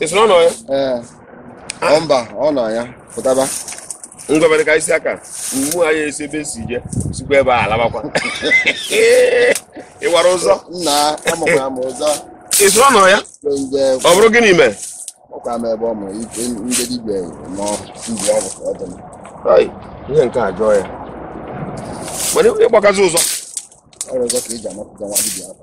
ị sị na ọ nọ ya ee ọ mba ọ nọ ya pụtaba ngwa mere ka isi aka ma anyị esi ebe si je sikwa ebe a alabakwa ị mara ụzọ nna amakwara m ụzọ ị sị na ọ nọ ya ọ bụrụ gịnị mee ọkwa m ebe ọ mụrụ ike ndị dibịa ma ọ ibi ọgwụ ka ọ dị mma. Ai, ihe nke a jụọ ya mana ịgbakazi ụzọ ọrụ ọzọ ka eji amapụta nwa dibịa afọ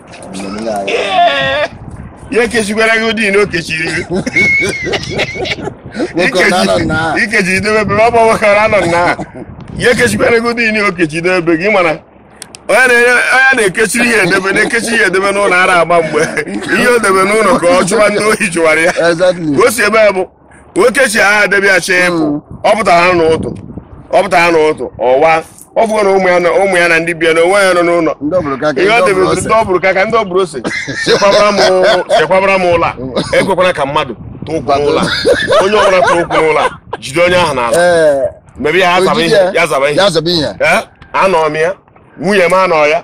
ya ekechikwara gị ụdị na o kechiri gị Nwoke ọ na-anọ na ha. ikechi idebe ebe ọ bụ nwoke ọ na-anọ na ha. ya ekechikwara gị ụdị na o kechi idebe ebe gị mana onye na-enye- onye na-ekechiri ihe edebe na-ekechi ihe edebe n'ụlọ ara agbaba ihe o debe n'ụlọ ka ọ chụwa ndị ohi chụwara ya Exactly. ka o si ebe a bụ o kechie ya debe ya chee ịpụ Mm. ọ pụtara ha n'ụtụ ọ pụtara ha n'ụtụ ọwa ọ fụgo na ụmụ ya na ndị bịa na onwe ya nọ n'ụlọ ihe o debere ndị ọ bụrụ ka ka ndị ọ bụrụ sị chekwabara m ụlọ a ekwekwara ka mmadụ tụ ụkwụ n'ụlọ a onye ọbụla tụ ụkwụ n'ụlọ a jide onye ahụ n'ala ee mebe ya ya zaba ihe Eh, anọ m ya nwunye m anọ ya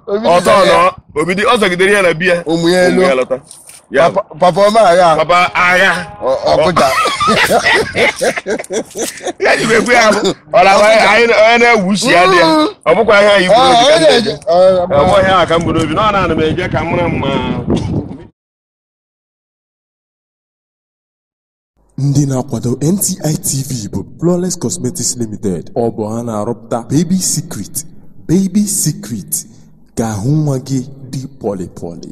ọzọ nọ obido ọ zọgidere ya na biya ụmụ ya elu papa ọma agha papa agha ọkụja ya ji ekwe ya bụ ọla onye na-ewusi ya dị ya ọ bụkwa ihe anyị kwuru obi ka m na-eje ọ bụ ihe a ka m bu n'obi na ọ na-ana m eje ka m mara mma Ndị na-akwado NTI TV bụ Flawless Cosmetics Limited. Ọ bụ ha na-arụpụta Baby Secret, Baby Secret ka ahụ nwa gị dị pọlị pọlị.